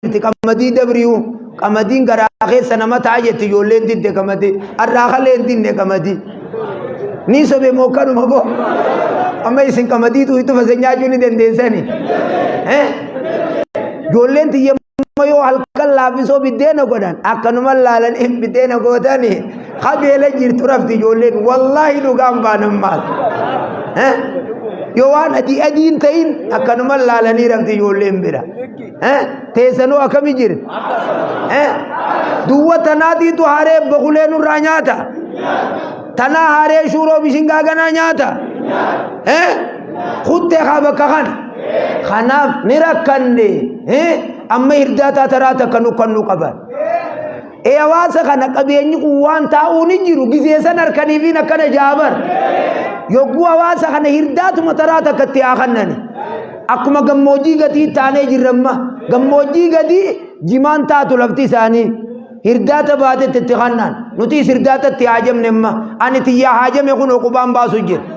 jetti qamadii dabriyu qamadiin garaa keessa nama ta'a jetti ijoolleen didde qamadii har'aa kalee hin dinne qamadii ni sobe moo kanuma boo amma isin qamadii tuutu fase nyaachuu ni dandeessani eh ijoolleen tiyya amma yoo halkan laafisoo biddeena godhan akkanuma laalanii biddeena gootanii qabeela jirtu rafti ijoolleen wallaahi dhugaan baanan maal eh yoo waan adii adiin ta'in akkanuma laalanii rafti ijoolleen bira Eh, teessanoo akkamii jira? Eh, duwwa tanaatiitu haree bokulee nurraa nyaata. Tanaa haree shuuroo bishingaa ganaa nyaata. Eh, kuttee haa bakka kana. Kanaaf ni rakkanne. Eh, amma hirdaa taataraa takka nu kan nu qaban. Ee hawaasa kana qabeenyi kun waan taa'uu ni jiru gisee san harkaniifiin akkana jaabar. Yogguu hawaasa kana hirdaatuma taraa takka itti haa kannani. Akkuma gammoojjii gadii taanee jirramma gammoojjii gadii jimaan taatu lafti isaanii. Hirdaata baatetti itti kannaan nutis hirdaatatti haajamne amma ani tiyyaa haajame kun oqubaan baasu jira.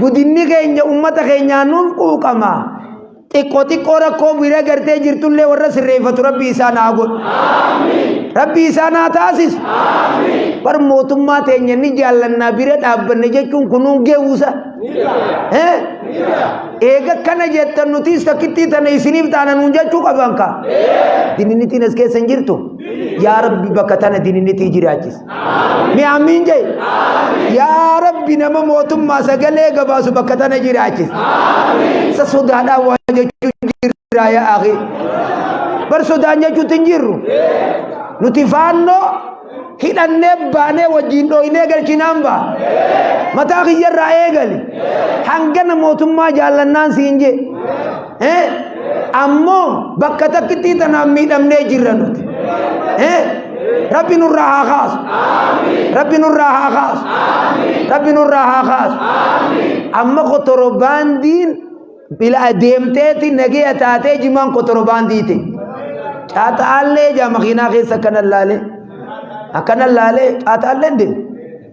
Gudinni keenya ummata keenyaa nuuf quuqama. Xiqqoo xiqqoo rakkoo bira gartee jirtullee warra sirreeffatu rabbi isaan haa godhu. Rabbi isaan haa taasisu. Bar mootummaa teenya ni jaallannaa bira dhaabbanne jechuun kunuun geewusa. Eh? Eega kana jettan nutis takkittii tana isiniif taana nuun jechuu qaban ka. Dininitiin as keessa hin jirtu. Yaa rabbi bakka tana dininitii jiraachis. Mee ammiin jee. Yaa Rabbi nama mootummaa sagalee gabaasu bakka tana jiraachis. Isa sodaadhaan waa jechuun jirraa yaa akhi. Bar sodaan jechuutti hin jirru. Nuti faannoo hidhannee baanee wajjin dhooynee galchinaan baa. Mataa kiyyarraa eegali. Hangana mootummaa jaallannaan siin jee. Eh? Ammoo bakka takkittii tanaan miidhamnee jirra nuti. Eh? Rabbi nurraa haa kaasu. Rabbi nurraa haa kaasu. Rabbi nurraa haa kaasu. Amma kotorobaandiin bila adeemteeti nagaya taatee jimaan kotorobaandii ta'e. Caaxaallee jaa makiinaa keessa akkana laalee. Akkana laalee caaxaallee deemu.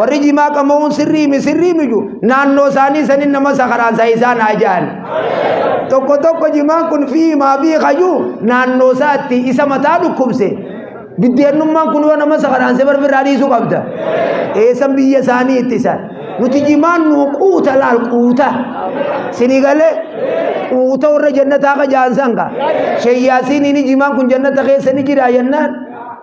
warri jimaa qama'uun sirrii mi sirrii miju naannoo isaanii sanin nama sakaraansa isaan haa ja'an tokko tokko jimaan kun fi maa fi kayuu naannoo isaatti isa mataa dhukkubse biddeenummaan kun yoo nama sakaraanse barbirraa dhiisuu qabda eessan biyya isaanii ittisan nuti jimaan nu quuta laal quuta sini galee quuta warra jannataa ka ja'an sanka sheyyaasiin ini jimaan kun jannata keessa ni jira jennaan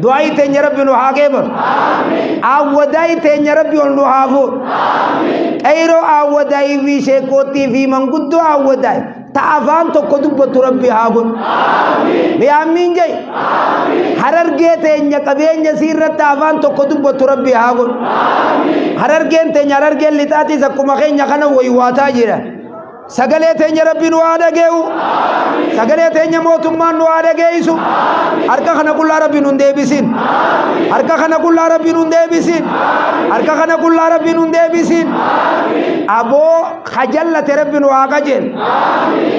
Du'aayi teenya Rabbi nu haa qeebalu. Awwadaayi teenya Rabbi ol nu haa fuudhu. Qeyroo awwadaayi fi sheekkoottii fi manguddoo awwadaayi ta afaan tokko dubbattu Rabbi haa godhu. Mi'aammiin jai. Harargee teenya qabeenya isii irratti afaan tokko dubbattu Rabbi haa godhu. Harargeen teenya harargeen lixaatiis akkuma keenya kana waywaataa jira. Sagalee teenya rabbi nu haa dhagee'u. Sagalee teenya mootummaan nu haa dhageessu. Harka kana qullaa rabbi nu hin deebisin. Harka kana qullaa rabbi nu hin deebisin. Harka kana qullaa rabbi nu hin deebisin. Aboo ha jallate rabbi nu haa qajeen.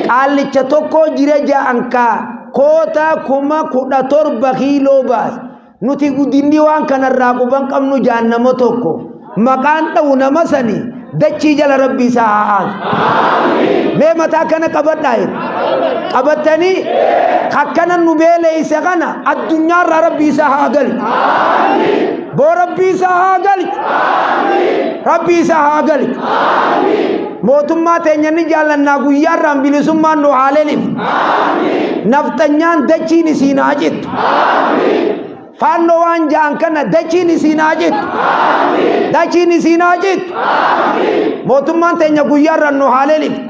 Qaallicha tokko jira ja'ankaa koota kuma kudha torba kiiloo baasa. Nuti guddinni waan kanarraa quban qabnu jaan nama tokko maqaan dha'u nama sani dachii jala rabbi isaa haa aansu. Mee mataa kana qabadhaa jedhu. Qabattanii akkana nu beeleeyse kana addunyaarraa rabbi isaa haa galchu. Boo rabbi isaa haa galchu. Rabbi isaa haa galchu. Mootummaa teenya ni jaallannaa guyyaarraan bilisummaan nu haa lelif. Nafxanyaan dachiin isiin haa cittu. Faannoo waan ja'an kana dachiin isiin haa jittu. Dachiin isiin haa jittu. Mootummaan teenya guyyaarraan nu haa leeliftu.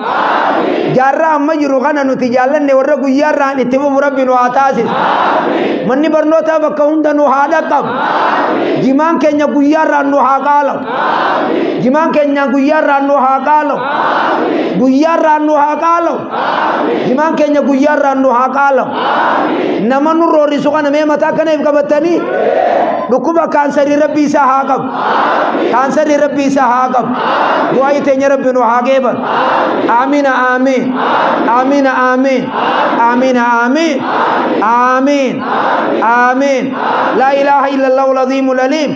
Jaarraa amma jiru kana nuti jaallanne warra guyyaarraan itti fufu rabbi nu haa taasisu. Manni barnootaa bakka hunda nu haa dhaqqabu. Jimaan keenya guyyaarraan nu haa qaalamu. Jimaan keenya guyyaarraan nu haa qaalamu. Guyyaarraan nu haa qaalamu. Himaan keenya guyyaa irraan nu haa qaalamu. Nama nu roorrisu kana mee mataa kana if qabattanii dhukkuba kaansarii rabbi isaa haa qabu. Kaansarii rabbi isaa haa qabu. Du'aayi teenya rabbi nu haa geeban. Aamiina aamiin. Aamiina aamiin. Aamiina aamiin. Aamiin. Aamiin. Laa ilaaha illallah ul-aziimul aliim.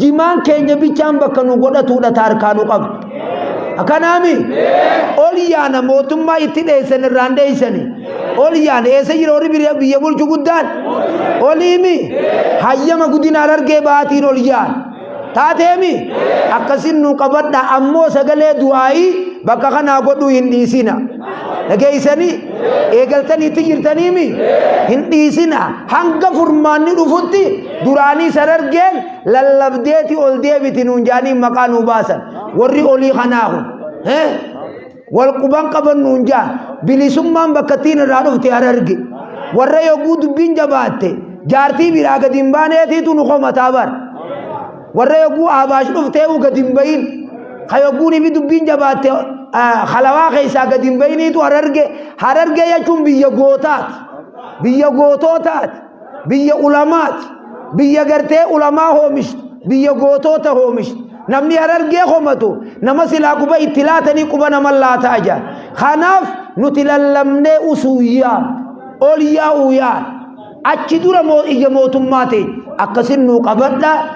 jimaan keenya bichaan bakka nu godhatuudha taarkaa nu qabdu. Akkanaami ol yaana mootummaa itti dheessan irraan dheessani. Ol yaana eessa jira warri biyya biyya bulchu guddaan? Oliimi hayyama guddina harargee baatiin ol yaana. Taateemi akkasin nu qabadha ammoo sagalee du'aa'ii bakka kanaa godhuu hin dhiisina. Dhageessanii eegaltanii itti jirtaniimi hin dhiisina hanga furmaanni dhufutti duraanii san argeen lallabdeeti ol deebiti nuun jaaniin maqaa nuu baasan warri olii kanaa kun eh? wal quban qaban nuun jaan bilisummaan bakkattiin irraa dhufte hararge warra yogguu dubbiin jabaatte jaartii biraa gadi hin baaneetiitu nu komataa bar warra yogguu aabaash dhufteehu gadi hin bayin ka yogguun ifi dubbiin jabaatte ah, halawaa keessaa gadi hin bayiniitu hararge hararge jechuun biyya gootaati biyya gootootaati biyya ulamaati biyya gartee ulamaa hoomishtu biyya gootoota hoomishtu namni harargee komatu nama silaa quba itti laatanii quba nama laataa jira kanaaf nuti lallabnee usuuyyaa ol yaa'uu yaala achi dura moo iyya mootummaa ta'e akkasin nuu qabadha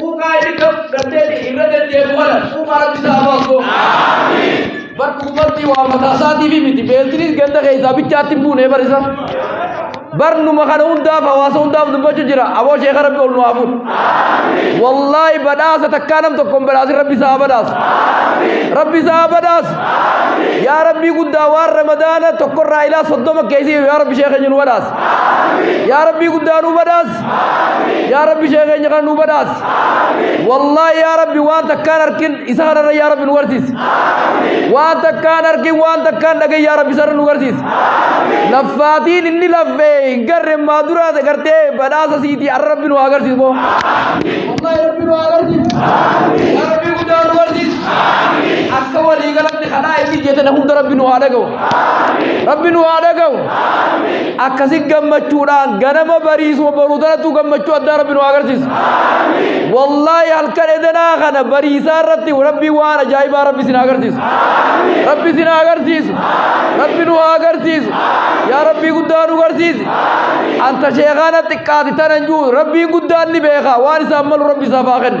Quufaa inni kan fudhatteeti irra deddeebu kana quufaa rabbi isaa hafa osoo. Bar dhugumatti waa mataa isaatiif miti beeltinis ganda keessaa bichaatti hin buune barisa. Bar numa kana hundaaf hawaasa hundaaf dubbachuu jira aboo sheeka rabbi ol nu haa fuudhu. Wallaahi badhaasa takkaa nam tokkoon badhaasin rabbi isaa haa badhaasu. Rabbi isaa haa badhaasu. Yaa rabbii guddaa waan ramadaana tokkorraa ilaa soddoma keessi yaa rabbi sheeka keenya nu badhaasi. Yaa rabbii guddaa nu badhaasi. yaa rabbi ishee keenya kana nu badhaas wallaahi yaa rabbi waan takkaan arkin isa kanarra yaa rabbi nu garsiis waan takkaan arkin waan takkaan dhagee yaa rabbi isarra nu garsiis laffaatiin inni laffee hin garre maa duraa isa gartee badhaasa siitii arra rabbi nu haa garsiis boo wallaahi rabbi nu haa garsiis yaa rabbi guddaa nu garsiis akka walii galan kadhaa itti jetan hunda rabbi nu haa dhagahu rabbi nu haa dhagahu akkasi gammachuudhaan ganama bariisuma baruu tanattuu gammachuu addaa rabbi nu haa agarsiisu wallaahi halkan edanaa kana bariisaa irratti rabbi waan ajaa'ibaa rabbi isin haa agarsiisu rabbi isin haa agarsiisu rabbi nu haa agarsiisu yaa rabbii guddaa nu garsiisi anta sheekaana xiqqaati tanan juu rabbiin guddaan ni beeka waan isaan malu rabbi isaaf haa kennu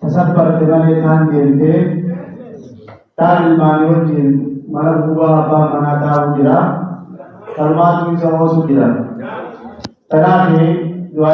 Tasat barte malee taan deemte taan ilmaanii wajjiin mana gubbaa abbaan manaa taa'uu jira. Tanumaatu isa oosu jira. Tanaafi du'aa